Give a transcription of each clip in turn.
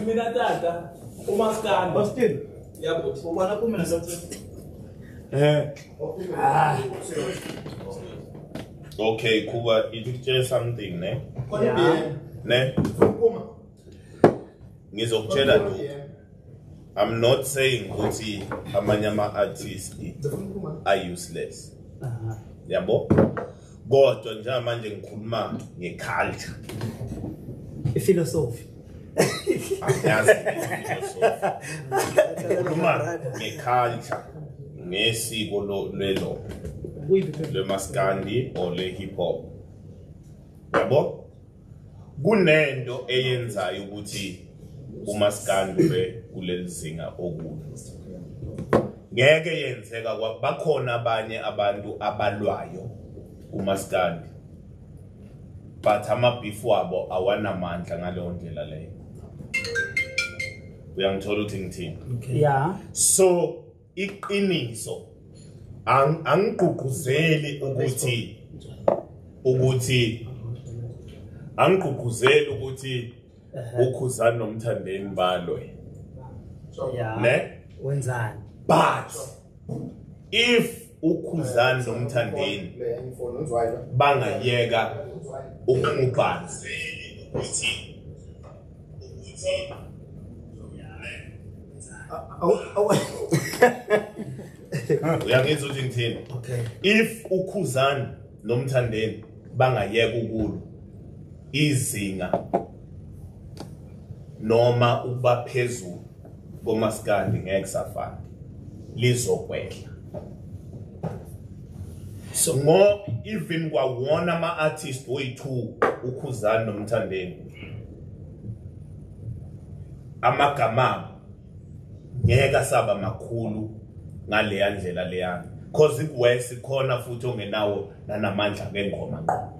Mina tata umaskani. Baskin. Yabo ubona kumina sathi. Eh. Ah. Okay, Kuba, you did say something, ne? Yeah. Ne? Kuma. Ngizokutshela lokho. I'm not saying ukuthi amanye ama artists are useless. Uh -huh. Yabo? kodwa njengamanje ngikhuluma ngeculture ifilosofi angiyazi ifilosofi ngikhuluma ngeculture ngesiko lelo lemaskandi or le hip hop yabo kunento eyenzayo ukuthi umaskandi ube kuleli zinga okude ngeke yenzeka bakhona abanye abantu abalwayo umaskandi but amabhifu wabo awanamandla ngaleyo ndlela leyo uyangithola ukuthi ngithini yeah so iqiniso angigqugquzeli ukuthi ukuthi angigqugquzeli ukuthi ukhuzani nomthandeni balwe ne wenzani but if ukhuzani nomthandeni bangayeka ukumubhanzi ukuthi uyangizwa ukuthi ngithini okay if ukhuzani nomthandeni bangayeka ukulu izinga noma ukuba phezulu komaskandi ngeke safana lizokwehla so ngoba even kwawona ama-artist oyi-two ukhuzani nomthandeni amagama abo ngeke asaba makhulu ngaleya ndlela leyana cause kuwesi khona futhi ongenawo nanamandla ngengoma ngqo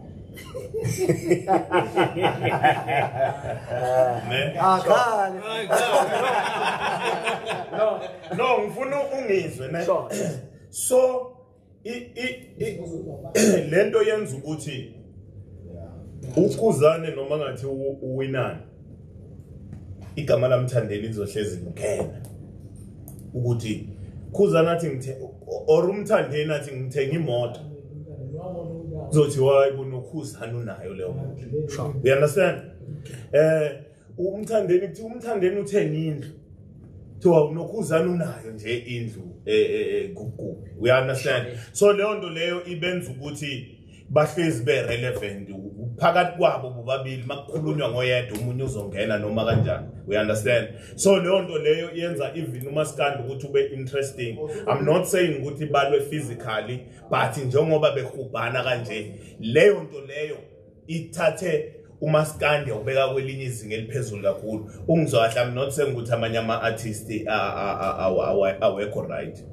akhale no no ngifuna ungizwe ne so i i lento yenza ukuthi ukuzane noma ngathi uwinani igama lamthandeni lizohlezi ngikena ukuthi khuzana athi ngithe or umthandeni athi ngithenga imoto zothi wayi kunokhuzana unayo leyo moto you understand eh umthandeni kuthi umthandeni uthenge indlu kuthiwa unokhuzana unayo nje indlu eh, eh, eh, kukubi we understand so leyo nto leyo ibenza ukuthi bahlezi be-relevant phakathi kwabo bobabili uma kukhulunywa ngoyedwa omunye uzongena noma kanjani we understand so leyo nto leyo yenza even umaskandi ukuthi ube interesting i'm not saying ukuthi balwe physically but njengoba behubhana kanje leyo nto leyo ithathe umaskandi ubeka kwelinye izinga eliphezulu kakhulu ungizwa kahle i'm not saying ukuthi amanye ama-artist awekho right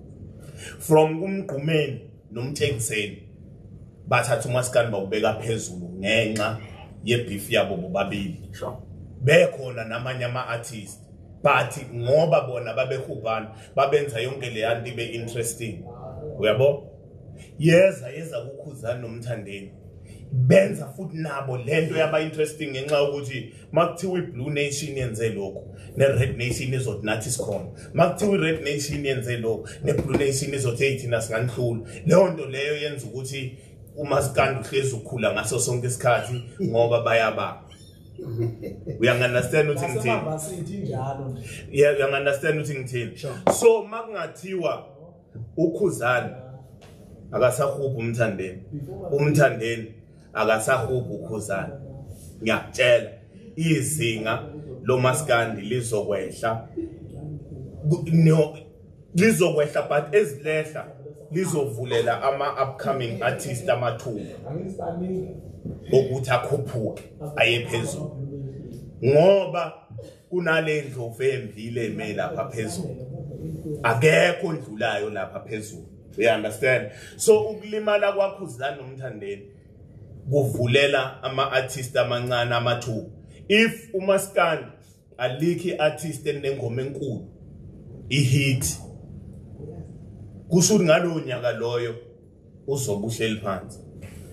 from kumgqumeni nomthengiseni bathatha umaskani bawubeka phezulu ngenxa yebeef yabo bobabili bekhona namanye ama-artist but ngoba bona babehubhana babenza yonke leya nto ibe interesting uyabo yeza yeza kukhuzani nomthandeni benza futhi nabo lento yaba interesting ngenxa yokuthi uma kuthiwa i-blue nation yenze lokhu ne-red nation izothi nathi sikhona uma kuthiwa i-red nation yenze lokhu ne-blue nation izothi eyi thina singanihlula leyo nto leyo yenza ukuthi umasikandi uhlezi ukhula ngaso sonke isikhathi ngoba bayabanga uyangunderstand ukuthi ngithini uyangunderstand ukuthi ngithini so uma kungathiwa ukhuzane akasahubhi umthandeni umthandeni akasahugu ukhuzana ngiyakutshela izinga lomaskandi lizokwehla no lizokwehla but ezilehla lizovulela ama upcoming artist amathuba ukuthi akhuphuke aye phezulu ngoba kunale ndlovu emvile eme lapha phezulu akekho ondlulayo lapha phezulu you understand so ukulimala kwakho uzilani nomthandeni kuvulela ama-artist amancane amathuba if umaskandi alikho i-artist enengoma enkulu ihit kusho ukuthi ngalowo nyaka loyo uzobe uhleli phansi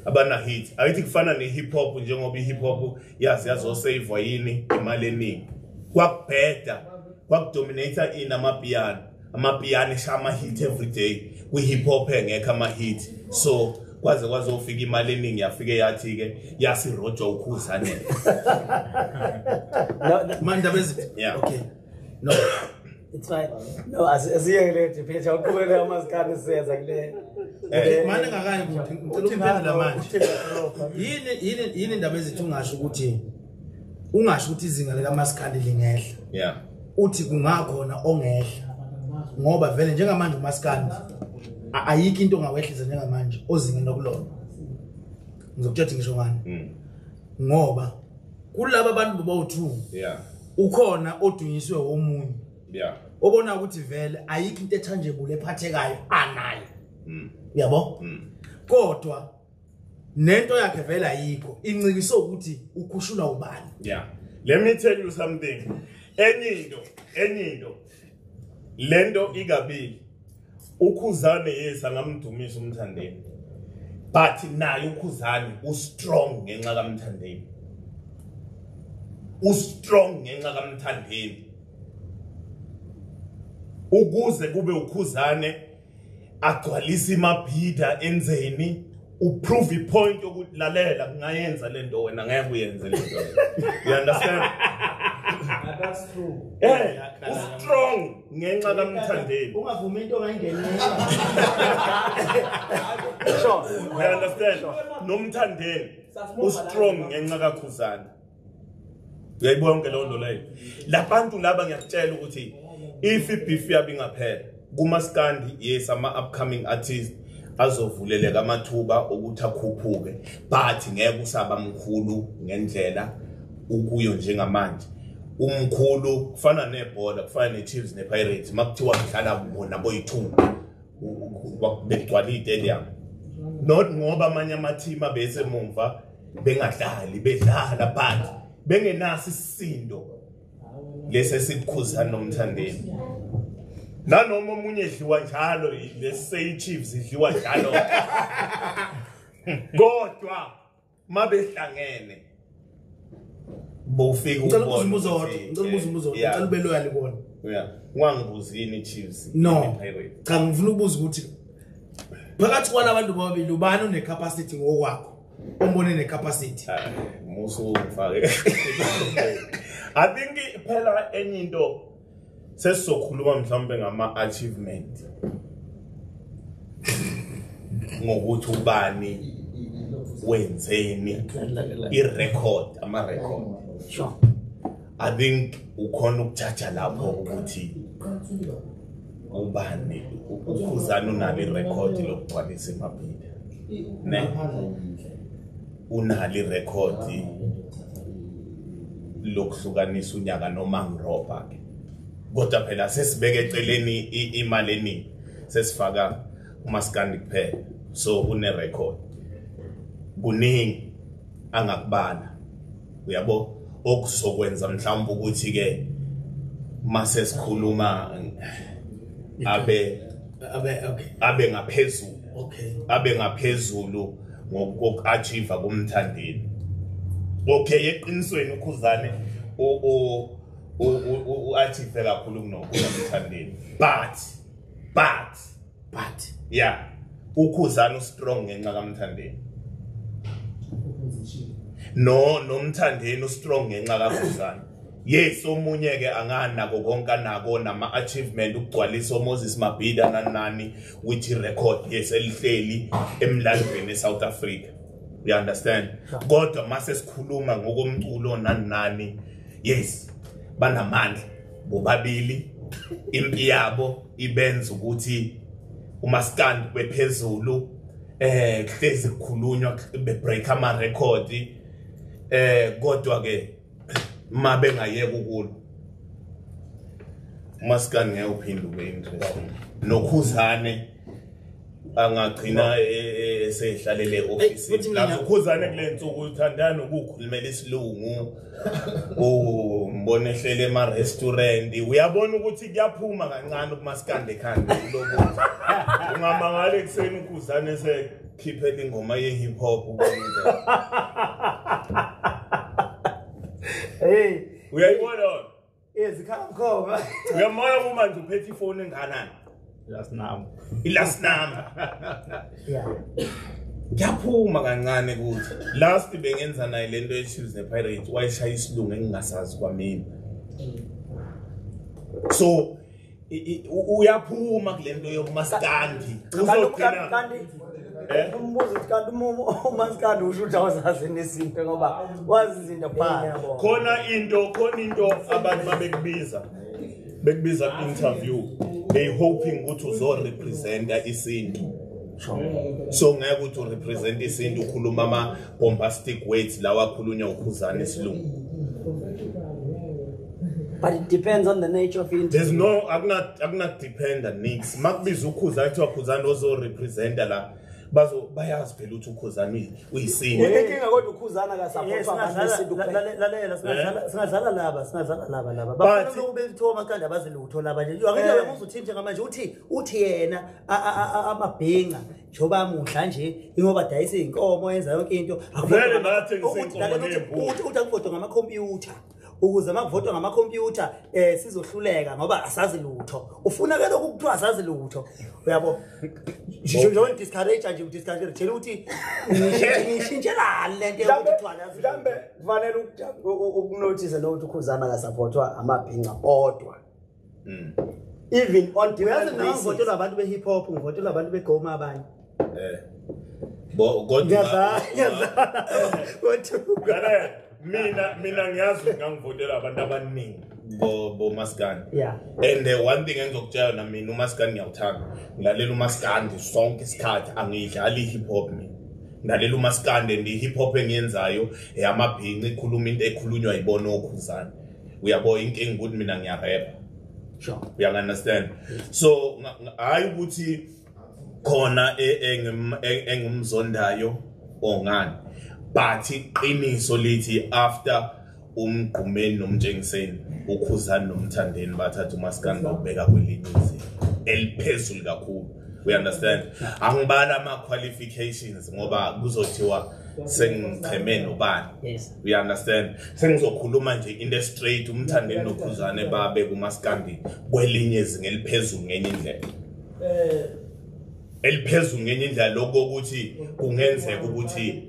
abanahit ayithi kufana ne-hip hop njengoba i-hip hop yazi yazoseyivwa yini imali eningi kwakubheda kwakudominata ini amapiyano amapiyano esha ama-hit every day kwi-hip hop engekho ama-hit so kwaze kwazofika imali eningi yafike yathi-ke yasirojwa ukhuzanela manje abezithi ya okay no it's fine no asiye kule debate awuqhubeke amazikane siyenza kule eh, manje ngakayi kuphi ngicela imphendula manje yini yini yini indaba ezithi ungasho ukuthi ungasho ukuthi izinga lika maskandi lingehla yeah uthi kungakhona ongehla ngoba vele njengamanje umaskandi ayikho into ongawehlisa njengamanje ozingeni lokulona ngizokutshela ukuthi ngisho ngani mm. ngoba kulaba bantu bobawu-two yeah ukhona odunyiswe omunye yeah obona ukuthi vele ayikho into ethanjebule ephathekayo anayo mm. yabo mm. kodwa nento yakhe vele ayikho incikiso ukuthi ukhushulwa ubani yeah let me tell you something enye into enye into lento ikabili ukhuzane yes angamdumisa umthandeni but naye ukhuzane ustrong ngenxa kamthandeni ustrong ngenxa kamthandeni ukuze kube ukhuzane agcwalise imabhida enzeni uprove ipoint yokuthi lalela kungayenza lento wena ngeke uyenze lento you understand that's true eh u strong ngenxa kamthandeni ungavumi into ongayingenela sure you understand nomthandeni u strong ngenxa kakhuzana uyayibona konke leyo nto leyo labantu laba ngiyakutshela ukuthi if ibeef yabo ingaphela kumaskandi yes ama-upcoming artist azovuleleka amathuba okuthi akhuphuke but ngeke usaba mkhulu ngendlela ukuyo njengamanje umkhulu kufana nebhola kufana ne-chiefs ne-pirates uma kuthiwa kudlala bona boyithumba begcwala iy'tedium not ngoba amanye amathimu abese mumva bengadlali bedlala phansi bengenaso isisindo lesi esikukhuzana nomthandeni nanoma omunye edliwa njalo leseyichiefs idliwa njalo kodwa mabehlangene bofika ngicela ukubuza umbuzo wodwa ngicela ukubuza eh, umbuzo wodwa ngicela ube loyal kubona yeah ungangibuzi yini chiefs no cha ngifuna ukubuza ukuthi phakathi kwalabantu bobabili ubani unecapacity ngokwakho umbone ne capacity musu ufake i think phela enye into sesizokhuluma mhlawumbe ngama achievement ngokuthi ubani wenzeni i record ama record sure I think ukhona ukuthatha lapho ukuthi ubani ukhuzana unalo irecord lokugcwalisa emabhida ne unalo irecord lokuhlukanisa unyaka nomangroba ke kodwa phela sesibeke eceleni imali eningi sesifaka umaskandi kuphela so une record kuningi angakubala uyabo okuzokwenza mhlawumbe ukuthi ke mase sikhuluma abe abe okay abe ngaphezulu okay abe ngaphezulu ngokuachieve kumthandeni okay eqinisweni ukhuzane o o uachieve kakhulu kunokuya kumthandeni but but but yeah ukhuzana ustrong ngenxa kamthandeni no nomthandeni ustrong ngenxa kakhuzana yes omunye ke anganako konke anako nama achievement ukugcwalisa uMoses Mabhida nanani with record yes elihleli emlandweni eSouth Africa you understand kodwa mase sikhuluma ngokomculo nanani yes banamandla bobabili impi yabo ibenza ukuthi umaskandi kube phezulu eh kuhlezi kukhulunywa be break ama record eh kodwa ke uma bengayeka ukulo umaskandi ngeke uphinde ube interesting nokhuzane angagcina esehlalele ofisini lapho khuzane kule nsuku uthandana ukukhulumela isilungu umbona ehlele ema-restaurant uyabona ukuthi kuyaphuma kancane ukumasikande ekhanda kuloku ungamangala ekuseni ukhuzane esekhiphela ingoma ye-hip hop hey uyayibona ezikhamkhoma uyamona kumanje uphethe ifoni enganani last number ilast number yeah ngiyaphuma kancane kuthi last bengenza naye lento yechiefs nepirates wayeshaya isilungu engingasazi kwamina so uyaphuma kule nto yokumasikandi uzogcinakanti eh? umbuzo ukuthi kanti umasikandi usho ukuthi awuzazi nezinto ngoba wazi izinto phaa khona into khona into abantu babekubiza bekubiza ku-interview they hoping ukuthi uzorepresenta isintu so ngeke ukuthi urepresent isintu ukhuluma ama bombastic words lawa akhulunywa ukhuzana isilungu but it depends on the nature of interview there's no akuna akuna depend on nix makubiza ukhuza athi wakhuzana ozo representer la bazo bayazi phela ukuthi ukhuzana uyisinto inkinga kodwa ukhuzana ka support abantu lalela singadlala singadlala laba singadlala laba laba bafuna ukube lithoma kande abazilutho laba nje yonke into uzothini njengamanje uthi uthi yena amabhinca njengoba amudla nje ingoba dayisa iy'nkomo enza yonke into ukuthi akuvodo ngamakhompyutha ukuze uma kuvotwa ngamakhompyutha um sizohluleka ngoba asazi lutho ufuna ke lokhu kuthiwa asazi lutho uyabo njengoba ndidiscourage nje udiscourage tshela ukuthi ngishintshelani le nto yokuthiwamhlawumbe kufanele ukunothise nokuthi ukhuzana kasaphothwa amabhinca odwa mm. even on uyazi mina ngivotelwa abantu be hip hop ngivotelwa abantu be goma abanye eh bo kodwa kodwa mina mina ngiyazi ngangivotela abantu abaningi bo bo maskani yeah and the one thing engizokutshela na mina umaskani ngiyawuthanda ngilalela umaskani sonke isikhathi angiyidlali hip hop mina ngilalela umaskani and hip hop engiyenzayo eyamabhinci ikhuluma into ekhulunywa yibona okhuzana uyabo inkinga ukuthi mina ngiyarepha sure uyangunderstand so hayi ukuthi khona e, e, e, engimzondayo ongani but iqiniso lithi after umgqumeni nomtshengiseni ukhuzani nomthandeni bathatha umaskani bawubheka kwelinye izinga eliphezulu kakhulu we understand angibala ama-qualifications ngoba kuzothiwa sengicheme nobani you understand sengizokhuluma nje into straight umthandeni nokhuzane babe kumaskandi kwelinye izinga eliphezulu ngenye indlela eh eliphezulu ngenye indlela lokho ukuthi kungenzeka ukuthi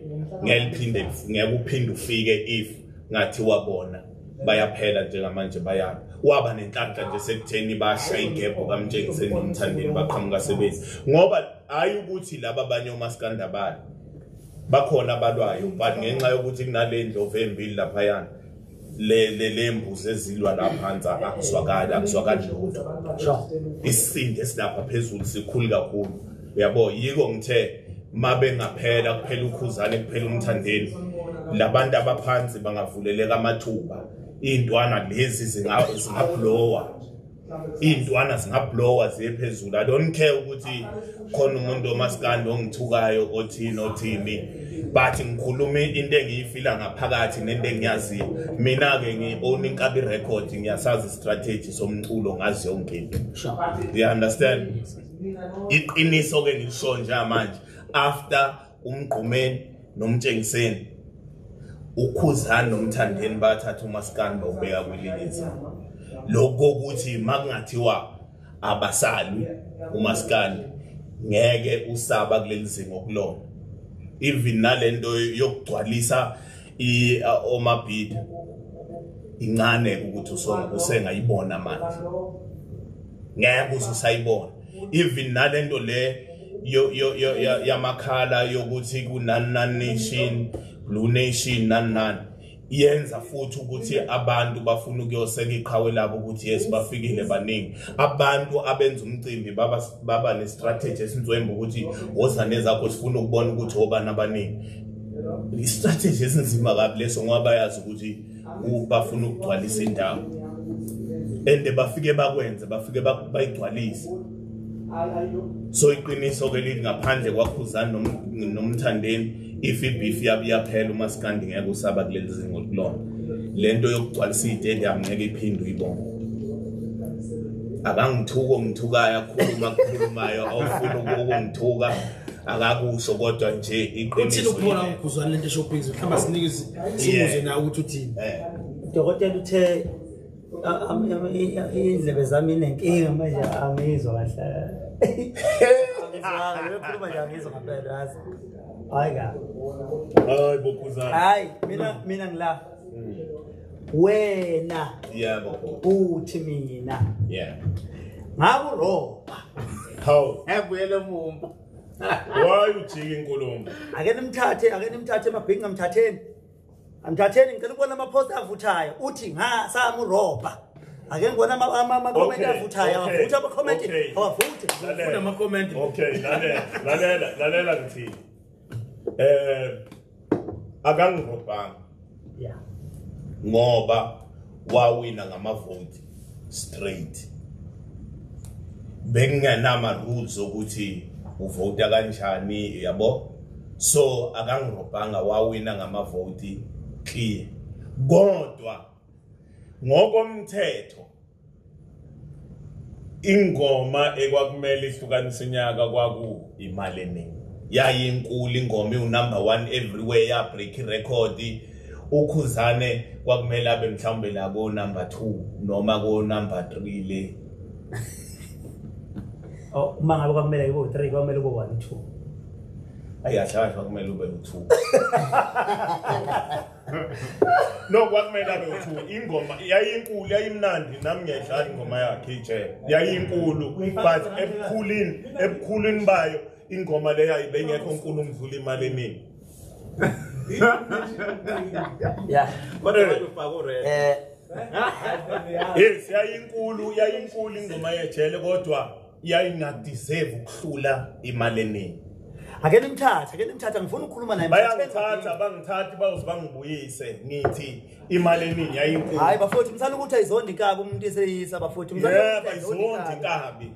ngeliphinde ngeke uphinde ufike if ngathi wabona bayaphela njengamanje bayaphi waba nenhlanhla nje sekutheni basha igebho kamtshengiseni nomthandeni baqhamuka sebenzi ngoba hayi ukuthi laba abanye omasikandabala bakhona abalwayo but ngenxa yokuthi kunale ndlovu embili laphayana le le lembuzi ezilwa la phansi akuzwakali akuzwakali lutho isisindo esilapha phezulu sikhulu kakhulu uyabo yiko ngithe uma bengaphela kuphela ukhuzane kuphela umthandeni labantu abaphansi bangavuleleka amathuba iy'ntwana lezi zingabhulowa iy'ntwana zingablowa ziye phezulu i don't care ukuthi khona umuntu omasikandi ongithukayo othini othini but ngikhulume into engiyifila ngaphakathi nento engiyaziyo mina-ke ngi-own inkabi record ngiyasazi istrategy somculo ngazi yonke into you understand iqiniso-ke ngilisho njengamanje after umgqumeni nomtshengiseni ukhuzani nomthandeni bathatha umaskani bawubeka kwililiza lokho ukuthi makungathiwa abasalwi umaskani ngeke usaba kuleli zinga okulona even nalento yokugcwalisa i omabhidi incane ukuthi usonga usenga ibona manje ngeke usayibona even nalento le yo yo yo yamakhala yokuthi kunani nani nation blue nation nani nani yenza futhi ukuthi abantu bafuna ukuyoseka iqhawe labo ukuthi yes bafikile baningi abantu abenza umcimbi baba baba ne strategy esinzwemba ukuthi wozane zakho sifuna ukubona ukuthi obani abaningi istrategy esinzima kabi leso ngoba bayazi ukuthi bafuna ukugcwalisa indawo and bafike bakwenze bafike bayigcwalise so iqiniso ke lithi ngaphandle kwakhuzani nomthandeni if ibif yaphela uma sikandi ngeke usaba kuleli zingo kulona le nto yokugcwalisa iy'tedium ngeke iphinde uyibone akangithuki ongithukayo akhuluma akhulumayo awufuni ukungithuka akakusho kodwa nje iqiniso uphona ukhuzwana lento shopping mhlamba sinike simuze nawe ukuthi uthini eh. dokotela uthe indlebe zami inenkinga manje angizwa kahle ngikhuluma nje angizwa ngempela yazi hayi ka hayi bokhuzana hayi mina mina ngilapha wena yebo uthi mina yeah ngaku roba how ngiyele mumba why ujike inkulumo ake nimthathe ake nimthathe emabhingi ngamthatheni amthatheni ngicela ukubona ama post avuthayo uthi nga samu roba ake ngibona ama comment avuthayo avutha ama comment avuthe ngifuna ama comment okay lalela lalela lalela ngithini eh akangirobhanga yeah ngoba wawina ngamavoti straight bengingenama rules ukuthi uvota kanjani yabo so akangirobhanga wawina ngamavoti clear kodwa ngokomthetho ingoma ekwakumele ihlukanise inyaka kwaku imali eningi yayinkulu ingoma iwunumber one everywhere yabreak irecord ukhuzane kwakumele abe mhlawumbe la konumber two noma konumber three le oh, uma ngabe kwakumele ibo three kwakumele ubo one two ayi ahlakahlwa kumele ube u-two no kwakumele abe uthuka ingoma yayinkulu yayimnandi nami ngiyayidlala ingoma yakhe ijele yayinkulu but ebukhulini ebukhulini bayo ingoma le yayi bengekho nkulu ngidlula imali eningi yeah kodwa ufaka ured eh yes yayinkulu yayinkulu ingoma yejele kodwa yayingadeserve ukuhlula imali eningi ake nimthathe ake nimthathe ngifuna ukukhuluma naye bayangithatha bangithathi bayoze bangibuyise ngithi imali eningi yayinkulu hayi bafowethu msana ukuthi ayizondi inkabi umuntu eseyisa bafowethu yebo ayizondi inkabi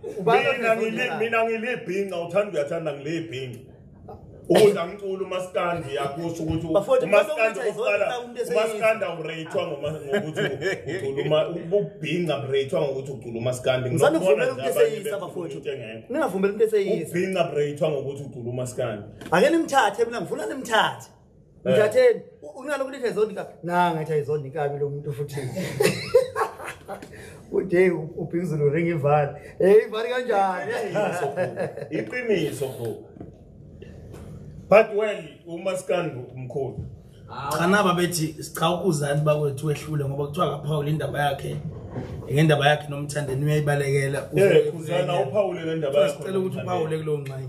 mina ngilibhinca uthanda uyathanda ngilibhinca Ukudla umculo umaskandi uyakusho ukuthi umaskandi uqala umaskandi awureyithwa ngokuthi ucula ububhinca bureyithwa ngokuthi ucula umaskandi ngisabona ukuthi eseyisa bafowethu ningavumela umuntu eseyisa ubhinca bureyithwa ngokuthi ucula umaskandi ake nimthathe mina ngifuna nimthathe Eh. Ngiyatheni unalo kulithi ayizondi kabi. Na ngathi ayizondi kabi lo muntu futhi. Ude ubhizulu ring ivali. Hey ivali kanjani? Iqiniso bro. But well uma sikandu umkhulu. Khana babethi sicha ukuzani bakwethu wehlule ngoba kuthiwa kaphawula indaba yakhe. ngendaba yakhe nomthandeni uyayibalekela eh, uzana uphawule ngendaba yakho cela ukuthi uphawule kulowo ngxenye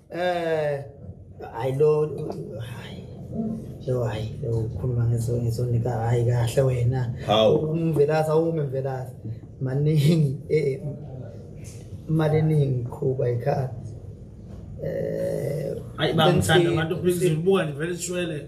eh hayi lo hayi lo hayi lo ukhuluma ngeso ngesonika hayi kahle wena umvelasa ume mvelasa maningi eh imali eningi qhuba ikhadi eh ayi bangithanda abantu please ubuka nivele shwele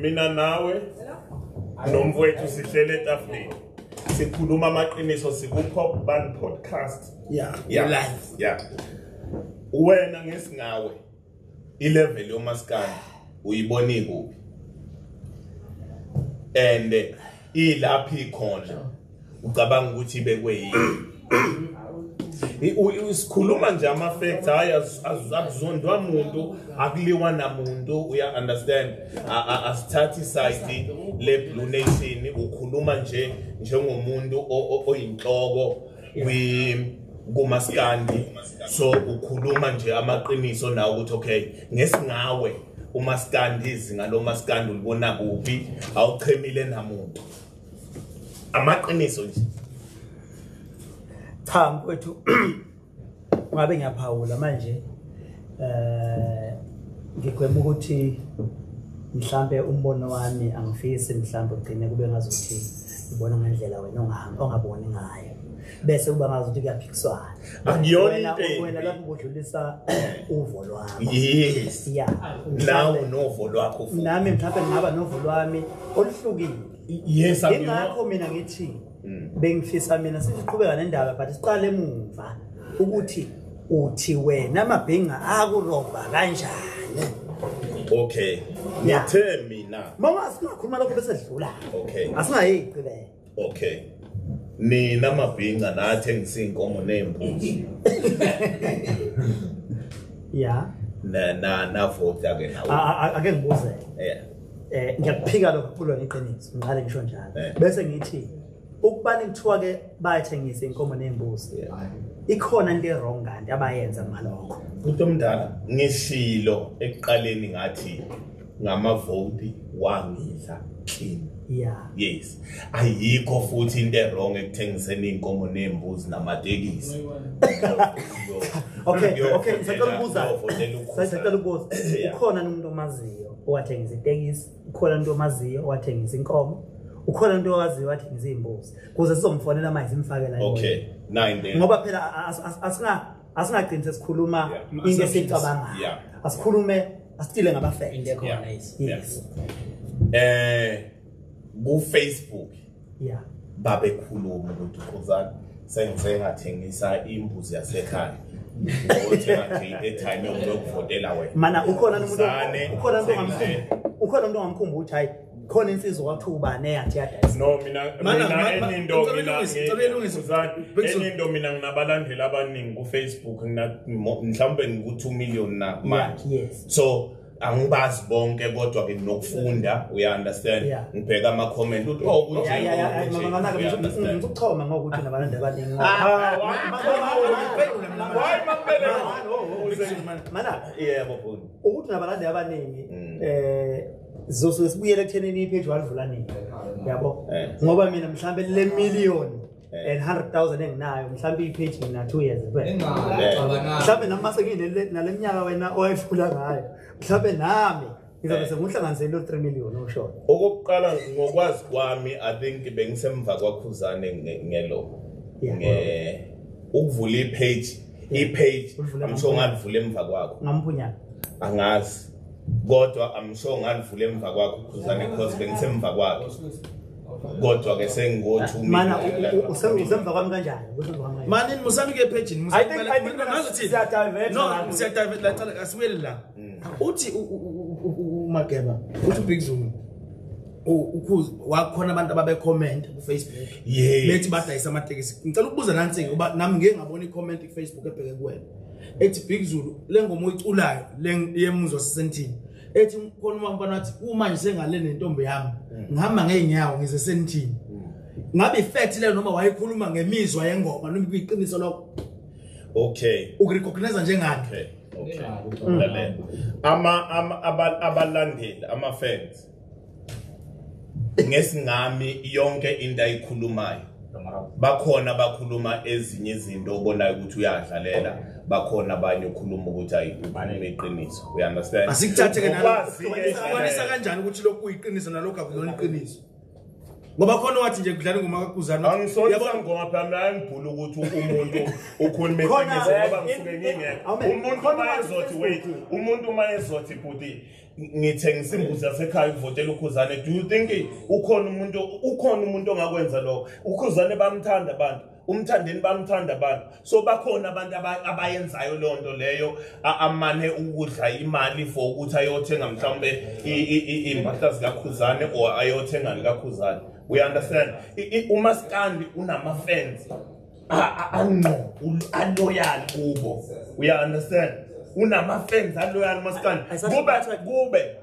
mina nawe nomfowethu sihlele etafuleni sikhuluma amaqiniso sikupop band podcast yeah yeah live yeah wena ngesingawe ilevel yomaskandi uyiboni kuphi and ilaphi ikhona ucabanga ukuthi ibekwe yini sikhuluma nje ama-facts hhayi akuzondwa muntu akuliwa namuntu uya-understand asithathi isayidi le-blue nation ukhuluma nje njengomuntu oyinhloko kumaskandi so ukhuluma nje amaqiniso nawo ukuthi okay ngesingawe umaskandi izinga lomaskandi ulibona kuphi awuchemile namuntu amaqiniso nje cha mfowethu ungabe ngiyaphawula manje eh ngigwema ukuthi mhlambe umbono wami angifisi mhlambe ugcine kube ngazothi ubona ngendlela wena ongahamba ongaboni ngayo bese kuba ngazi ukuthi kuyaphikiswana akuyona into wena lapho kudlulisa uvo lwakho yes ya nawe novo lwakho futhi nami mhlawumbe ngaba novo lwami oluhlukile yes akuyona ingakho mina ngithi hmm. bengifisa mina siqhubeka nendaba but siqale emuva ukuthi uthi wena amabhinga akurobha kanjani okay ngithe mina mama singakhuluma lokho bese sidlula okay asingayigcibela okay nina amabhinca nathi engisinkomo nembuzi ya na na na vota ke nawe ake ngibuze yeah eh ngiyakuphika lokho kulo iqiniso ngiqale ngisho njalo eh. bese ngithi ukubani kuthiwa ke bayathengisa inkomo nembuzi ikhona into ewrong kanti abayenza malokho umuntu omdala ngisilo ekuqaleni ngathi ngamavoti wangidla clean yeah yes ayikho futhi into ewrong ekuthengiseni inkomo nembuzi namatekisi okay okay sacela ukubuza sacela ukubuza ukhona umuntu omaziyo owathengisa itekisi ukhona umuntu omaziyo owathengisa inkomo ukhona umuntu owaziyo owathengisa iy'mbuzi kuze sizomfonela manje simfakela okay nine then ngoba phela asinga asingagcini sesikhuluma into esiyicabangayo asikhulume asitile ngabafende khona yes eh ku Facebook yeah babekhuluma ukuthi khuzani sengize ngathengisa imbuzi yasekhaya ngothenga nje i-airtime yokuvotela wena mana ukhona umuntu ukhona umuntu ongamkhumbuki ukhona umuntu ongamkhumbuki ukuthi hayi khona insizwa kwathiwa ubani eyathi yadayisa no mina mina enindo mina enindo mina nginabalandeli abaningi kufacebook mhlawumbe ngiku-two million na manje so angibazi bonke kodwa ke nokufunda uya understand yeah. ngibheka ama comment uthi oh kunje yeah, yeah, yeah. mama mama ke ngikuchoma ngokuthi nabantu abaningi hayi mambele mana yebo fundi ukuthi nabalandi abaningi mm. eh zosuke sibuyele ekuthenini ipage walivula nini yabo eh. ngoba mina mhlambe le million eh. and 100,000 enginayo mhlawumbe ipage mina 2 years kuphela mhlawumbe nami mase ngine naleminyaka wena owayifula ngayo mhlawumbe nami ngizobe eh. senguhlanganisele 3 million osho okokuqala ngokwazi kwami i think bengisemva kwakhuzane ngelo nge ukuvula ipage ipage amsho ngalivula emva kwakho ngamphunyana angazi kodwa amsho ngalivula emva kwakho khuzane because bengisemva kwakhe kodwa ke sengiwothu mana usemva kwami kanjani manini musami ke phejini ngazothi no siyadivert la cala asibuyele la mm. uthi umageba uthi ubig zulu ukhuzi wakhona abantu ababekhomenta kufacebook bethi badayisa amatekisi ngicela ukubuza nansi uba nami ngeke ngabona icomment kufacebook ebheke kuwena ethi big zulu le ngoma oyiculayo le yemuzwa sisentini ethi khona uma mfana wathi uma nje sengale nentombi yami mm. ngihamba ngeenyawo ngize senithini mm. ngabe ifect le noma wayekhuluma ngemizwa yengoma noma iqiniso lokho okay ukurecognize njengani okay okay mm. ama ama abalandeli ama fans ngesingami yonke into ayikhulumayo bakhona bakhuluma ezinye izinto obonayo ukuthi uyadlalela bakhona abanye ukhuluma ukuthi ayi ukhuluma iqiniso we understand asikuthathe ke nalokwanisa kanjani ukuthi lokhu kuyiqiniso nalokho akuyona iqiniso ngoba khona wathi nje kudlala ingoma kakuzani angisona ngoma phela mina ngibhula ukuthi umuntu ukhuluma iqiniso ngoba ngisuke ngingekho umuntu uma ezothi wait umuntu uma ezothi bhuti ngithengisa imbuzi yasekhaya ukuvotela ukhuzane do you think ukhona umuntu ukhona umuntu ongakwenza lokho ukhuzane bamthanda abantu umthandeni bamthanda abantu so bakhona abantu abayenzayo leyo nto leyo amane ukudla imali for ukuthi ayothenga mhlawumbe iy'mpahla zikakhuzane or ayothenga likakhuzane we understand umaskandi unama-fans angqobu aloyal kubo uya understand unama fans aloyal maskani kube kube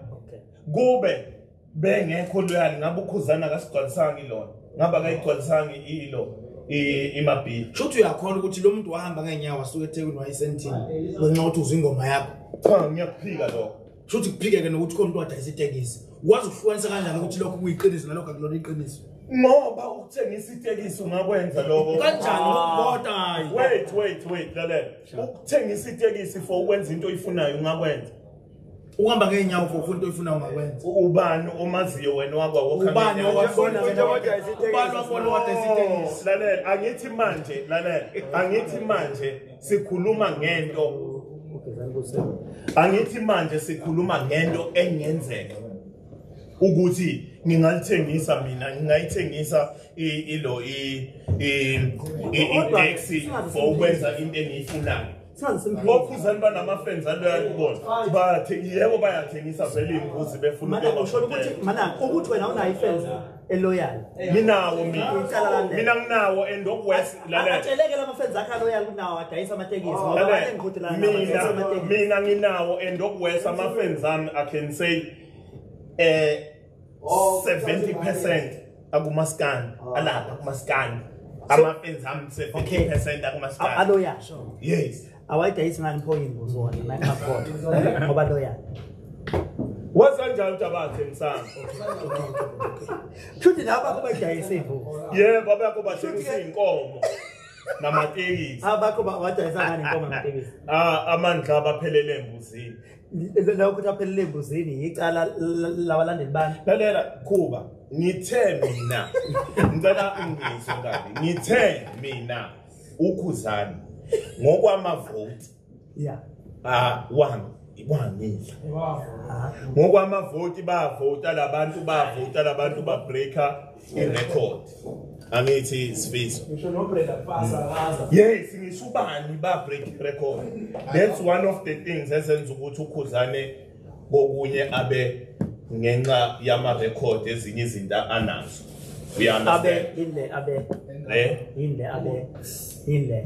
kube bengekho loyal ngabe ukhuzana kasigcwalisanga ilona ngabe akayigcwalisanga ilo imabhili shuthi uyakhona ukuthi lo muntu wahamba ngeenyawo asuke ethekwini wayesentini ngenxa ukuthi uzwa ingoma yakho cha ngiyakuphika lokho Shuthi kuphikeke nokuthi khona umuntu wadayisa itekisi. Wazi ukuhlukanisa kanjani ukuthi lokho kuyiqiniso nalokho akulona iqiniso? Ngoba ukuthengisa itekisi ungakwenza lokho. Kanjani ukubota ah. hayi? Wait, wait, wait, lalela. Ukuthengisa itekisi for ukwenza into oyifunayo ungakwenza. uhamba ngeenyawo for ufuna into oyifuna ungakwenza ubani omaziyo wena wakwa wokhubani owabona wena ubani wabona wadayisa itekisi lalela angithi manje lalela angithi manje sikhuluma ngento angithi manje sikhuluma ngento engenzeka ukuthi ngingalithengisa mina ngingayithengisa ilo i-index for ukwenza into engiyifunayo bokhuzani banama-fans aloya kubona bathe yebo bayathengisa vele iy'ngozi befuna ukuthi wena unayo ifenza eloyal nginawo mina mina nginawo and okwes lalela atsheleke lama friends akhe aloyal kunawo adayisa amatekisi oh, ngoba bale ngiqhuti la mina mina nginawo and okwes ama friends ami i can say eh 70% akumaskani oh. alapha kumaskani ama friends ami 70% akumaskani aloyal yes awayidayisi ngani pho imbuzi wona nayingakhoda ngoba loya wasanjani utabathe msana shuthi laba kubayidayisa imbuzi yebo abakho bathengisa iy'nkomo namatekisi abakho ah, badayisa ngani inkomo namatekisi ah, amandla abaphelele embuzini lawo ukuthi aphelele embuzini yicala labalandeli bani lalela khuba ngithe mina ngicela ungizwe kabi ngithe mina ukhuzani ngokwamavoti yeah ah wami ikwangile ngokwamavoti bavota labantu bavota labantu babreaker irecord angithi sifiso yes ngisho ubani babreak irecord that's one of the things ezenza ukuthi ukhuzane kokunye abe ngenxa yama record ezinye izinto anazo abe yile abe eh yile abe yile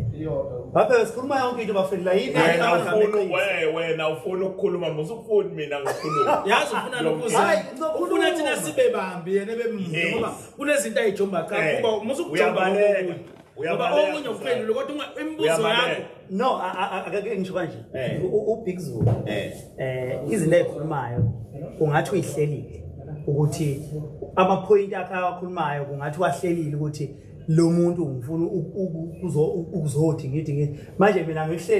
baba sikhuluma yonke into bafethu la yini wena ufuna wewe wena ufuna ukukhuluma musu ufuni mina ngikhuluma yazi ufuna lokuza ufuna thina sibe bambi yena bemnzi ngoba kunezinto ayijomba cha eh, kuba musu ukujomba ngoba omunye uphendule kodwa imibuzo yakho no akake ngisho kanje eh. ubig zulu um eh. eh, izinto ezikhulumayo ungathi uyihlelile ukuthi amaphoyinti akhe awakhulumayo kungathi wahlelile ukuthi lo muntu ngifuna ukuzothi ngithi manje mina ngihleli